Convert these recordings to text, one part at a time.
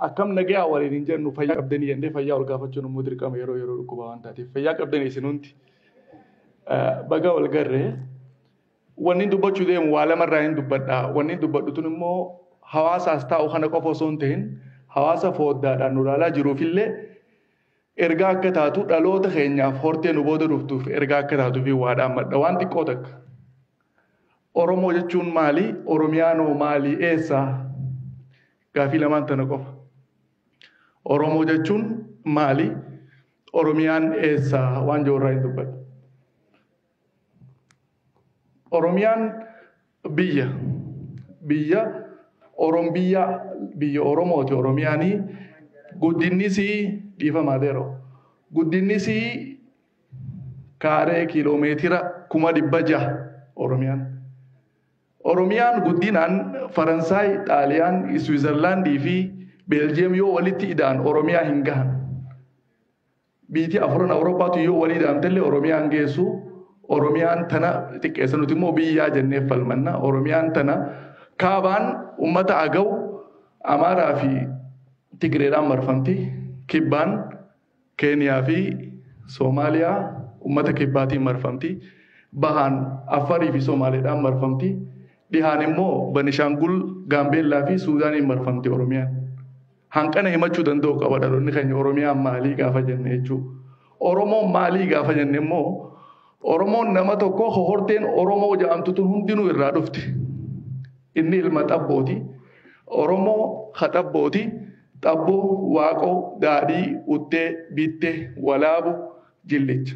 Akkam nagayaa waliin hin jennu fayyaa qabdanii jennee fayyaa wal gaafachuun immoo dirqama yeroo yeroo dhukkubaa waan taateef fayyaa qabdanii isin hundi baga wal garree wanni dubbachuu deemu waa lamarraa hin dubbadha wanni dubbadhu tun immoo hawaasaas taa'u kana qofa osoo hin ta'in hawaasa fooddaadhaan nu ilaalaa jiruufillee Ergaa akka taatu dhaloota keenyaaf hortee nu booda dhuftuuf ergaa akka taatuufi waa dhaammadha. Waan xiqqoo takka. Oromoo jechuun maali? Oromiyaan hoo maali? Eessa? Gaafii lamaan tana qofa. Oromoo jechuun maali? Oromiyaan eessa? Waan jiru irraa hin dubbadhu. Oromiyaan biyya biyya Orom biyya biyya Oromooti Oromiyaanii guddinnisii dhiifamaa deeroo guddinnisii kaaree kiiloomeetira kuma dhibba jaha Oromiyaan. Oromiyaan guddinaan Faransaay, Xaaliyaan, Iswiizerlaandii fi Beeljiyeem yoo walitti ida'an Oromiyaa hin gahan. Biitii afuran Awurooppaatu yoo walii daamtellee Oromiyaan geessu Oromiyaan tana xiqqeessa nuti immoo biyyaa jennee falmanna Oromiyaan tana kaabaan ummata agaw Amaaraa fi Tigireedhaan marfamti kibbaan Keeniyaa fi Soomaaliyaa ummata kibbaatiin marfamti bahaan Affarii fi Soomaaleedhaan marfamti dhihaan immoo Banishaangul Gaambeellaa fi Suudaaniin marfamti Oromiyaan. Hanqana himachuu danda'u qaba dhaloonni keenya Oromiyaan maalii gaafa jenne jechuudha. Oromoon maalii gaafa jenne immoo Oromoon nama tokko horteen Oromoo jedhamtu tun hundinuu irraa dhufte. Inni ilma xabbooti. Oromoo ha xabbooti. Xabboo, waaqoo, daadhii, uttee, bittee, walaabu, jillicha.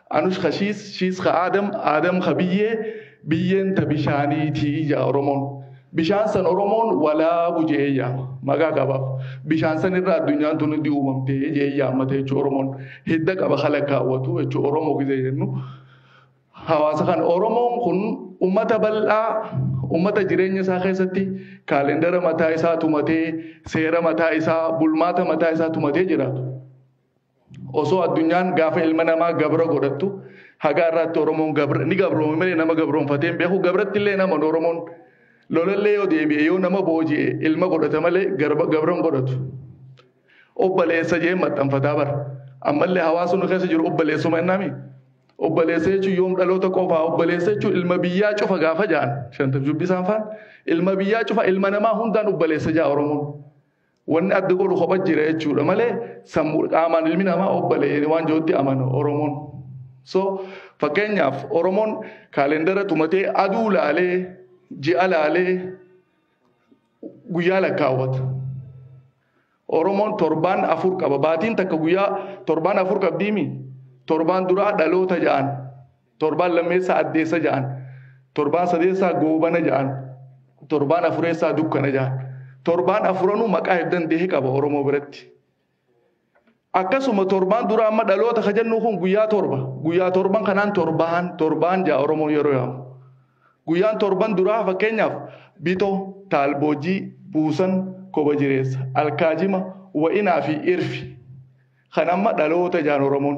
Anush ka shiis, shiis ka Aadam, Aadam ka biyyee, biyyeen ta bishaaniiti ja'a Oromoon. Bishaan san Oromoon walaabu je'ee yaama. Maqaa qabaaf. Bishaan san irra addunyaan tun hundi uumamte je'ee yaammata jechuu Oromoon. Hidda qaba ka lakkaawwatu jechuu Oromoo gizee jennu. Hawaasa kan Oromoon kun ummata bal'aa ummata jireenya isaa keessatti kaalendara mataa isaa tumatee, seera mataa isaa, bulmaata mataa isaa tumatee jiraatu. Osoo addunyaan gaafa ilma namaa gabra godhattu hagaa irraatti Oromoon gabra ni gabroome malee nama gabroonfatee hin beeku gabratti illee nama Oromoon lolallee yoo deebi'e yoo nama booji'e ilma godhata malee gabra hin godhatu. Obbaleessa jee maxxanfataa bara. Ammallee hawaasni nu keessa jiru obbaleessuma innaami. Obbaleessa jechuun yoom dhaloota qofaa obbaleessa jechuun ilma biyyaa cufa gaafa ja'an shantam jubbisaan faan ilma biyyaa cufa ilma namaa hundaan obbaleessa ja'a Oromoon. Wanni adda godhu kopha jira jechuudha malee sammuu qaamaan ilmi namaa obbale jedhee waan jirutti amana Oromoon. So fakkeenyaaf Oromoon kaalendara tumatee aduu laalee ji'a laalee guyyaa lakkaawwata. Oromoon torbaan afur qaba. Baatiin takka guyyaa torbaan afur qabdiimi. Torbaan duraa dhaloota ja'an. Torbaan lammeessaa addeessa ja'an. Torbaan sadeessaa goobana ja'an. Torbaan afureessaa dukkana ja'an. Torbaan afuranuu maqaa heddan dehe qaba Oromoo biratti. Akkasuma torbaan dura amma dhaloota ka jennu kun guyyaa torba. Guyyaa torban kanaan torbaan torbaan ja'a Oromoon yeroo yaamu. Guyyaan torban duraa fakkeenyaaf bitoo, taalboojii, buusan, koba jireessa, alkaajima, wa'inaa fi irfi. Kan amma dhaloota jaan Oromoon.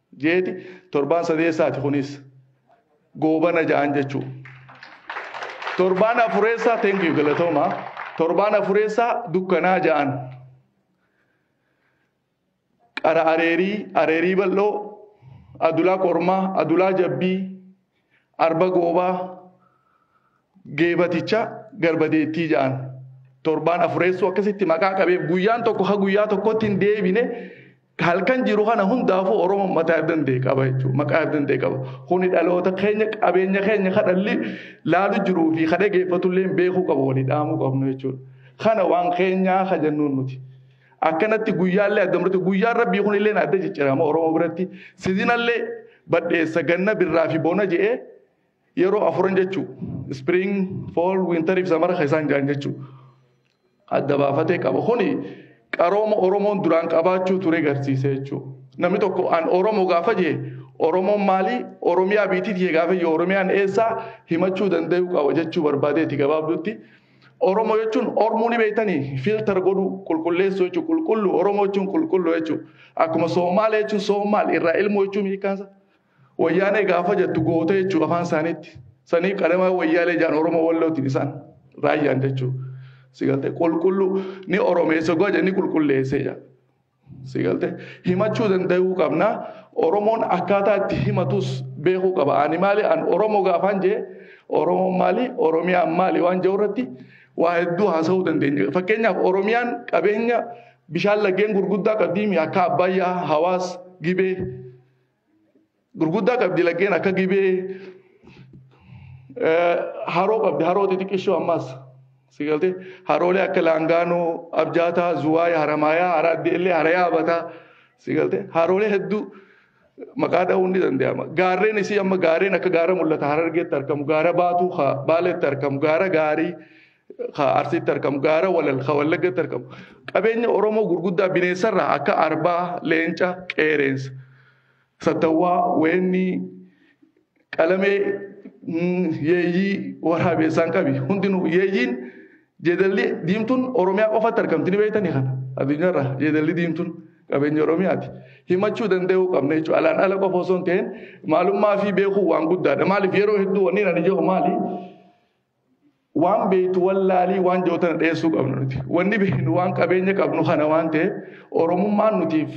jeeti torbaan sadeessaati kunis goobana ja'an jechuu torbaan afureessaa thank you galatooma torbaan afureessaa dukkanaa ja'an qara areerii areerii bal'oo adulaa kormaa adulaa jabbii Arba goobaa geebaticha garbadeettii ja'an. Torbaan afureessuu akkasitti maqaa qabeef guyyaan tokko ha guyyaa tokkotti hin deebine halkan jiru kana hundaafuu Oromoon mataa irdan ta'e qaba jechuudha. Maqaa irdan ta'e qaba. Kuni dhaloota keenya qabeenya keenya ka dhalli laalu jiruu fi ka dhageeffatullee beekuu qaba walii dhaamuu qabnu jechuudha. Kana waan keenyaa ka jennuun nuti. Akkanatti guyyaallee adda murte guyyaan rabbii kunillee adda ciccirama Oromoo biratti sizinallee badheessa ganna birraa fi bona je'ee yeroo afuran jechuu spring fall winter fi samara ka isaan ja'an jechuu adda baafatee qaba kuni qarooma Oromoon duraan qabaachuu ture garsiise jechuu namni tokko an Oromoo gaafa jee Oromoon maalii Oromiyaa biitii tiyya gaafa jee Oromiyaan eessaa himachuu danda'uu qaba jechuu barbaadeeti gabaabduutti Oromo jechuun ormuu ni beektanii filter godhuu qulqulleessuu jechuun qulqulluu Oromo jechuun qulqulluu jechuun akkuma Soomaalee jechuun Soomaal irraa ilmoo jechuun hiikkaansa wayyaanee gaafa jettu goota jechuun afaan isaaniitti sanii qadamaa wayyaalee jaan Oromo wallootiin isaan raayyaan jechuun sigaltee qulqulluu ni Oromeessa goja ni qulqulleessee jaa. Sigalte himachuu danda'uu qabna. Oromoon akkaataa itti himatus beekuu qaba. Ani maali an Oromoo gaafaan jee Oromoon maali Oromiyaan maali waan jedhu irratti waa hedduu haasa'uu dandeenya. Fakkeenyaaf Oromiyaan qabeenya bishaan laggeen gurguddaa qabdiimi akka Abbayyaa, Hawaas, Gibee. Gurguddaa qabdi laggeen akka gibee haroo qabdi haroo xixiqqishoo ammaas si galtee haroolee akka laangaanoo abjaataa zuwaay haramaayaa haraaddi illee harayaa abataa si galtee haroolee hedduu maqaa dha'uun ni danda'ama gaarreen isii amma gaarreen akka gaara mul'ata harargeetti argamu gaara baatuu baaleetti argamu gaara gaarii ka Arsiitti argamu, gaara Walal ka Wallaggatti argamu, qabeenya Oromoo gurguddaa bineensarraa akka arbaa, leenca, qeereensa, sattawwaa, weennii, qalamee, yeeyyii, waraabeessaan qabi. Hundinuu yeeyyiin jeedalli diimtuun Oromiyaa qofatti argamti ni beektanii kana addunyaarraa jeedalli diimtuun qabeenya Oromiyaati. Himachuu danda'uu qabna jechuudha. Alaan ala qofa osoo hin ta'in maalummaa fi beekuu waan guddaadha. Maaliif yeroo hedduu wanni ani jedhu maali? Waan beektu wallaalii waan jiru tana dhiyeessuu qabnu nuti. Wanni beeknu waan qabeenya qabnu kana waan ta'eef Oromummaan nutiif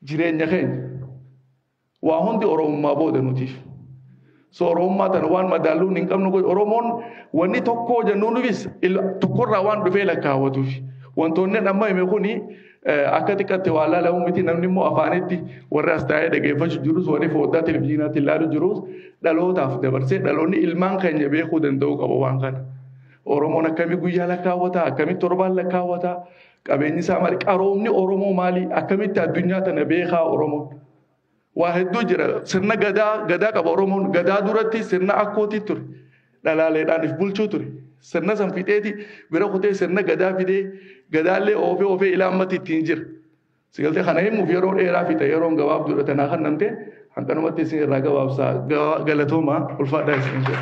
jireenya keenya. Waa hundi Oromummaa booda nutiif. So Oromummaa tana waan madaalluun hin qabnu godhu. Oromoon wanni tokkoo jennuunifis tokkorraa waan dhufee lakkaawwatuuf. Wantoonni amma hime kuni Akka xiqqaatti waa laalamu miti namni immoo afaanitti warri as taa'ee dhageeffachuu jirus warri foddaa televizyiinaatti ilaalu jirus dhalootaaf dabarsee dhaloonni ilmaan keenya beekuu danda'uu qaba waan kana. Oromoon akkamii guyyaa lakkaawwata akkamii torbaan lakkaawwata qabeenyi isaa maali qaroomni Oromoo maali akkamitti addunyaa tana beekaa Oromoon. Waa hedduu jira. Sirna gadaa gadaa qaba Oromoon. Gadaa duratti sirna akkootii ture. Dhalaaleedhaan if bulchuu ture. Sirna san fixeeti bira kutee sirna gadaa fidee gadaallee oofee oofee ilaa ammatti ittiin jira. Sigaltee kana himuuf yeroo dheeraa fixa yeroon gabaabduudha tanaa kan namte hanqanumatti isin irraa gabaabsaa galatoomaa ulfaadhaa isin jedha.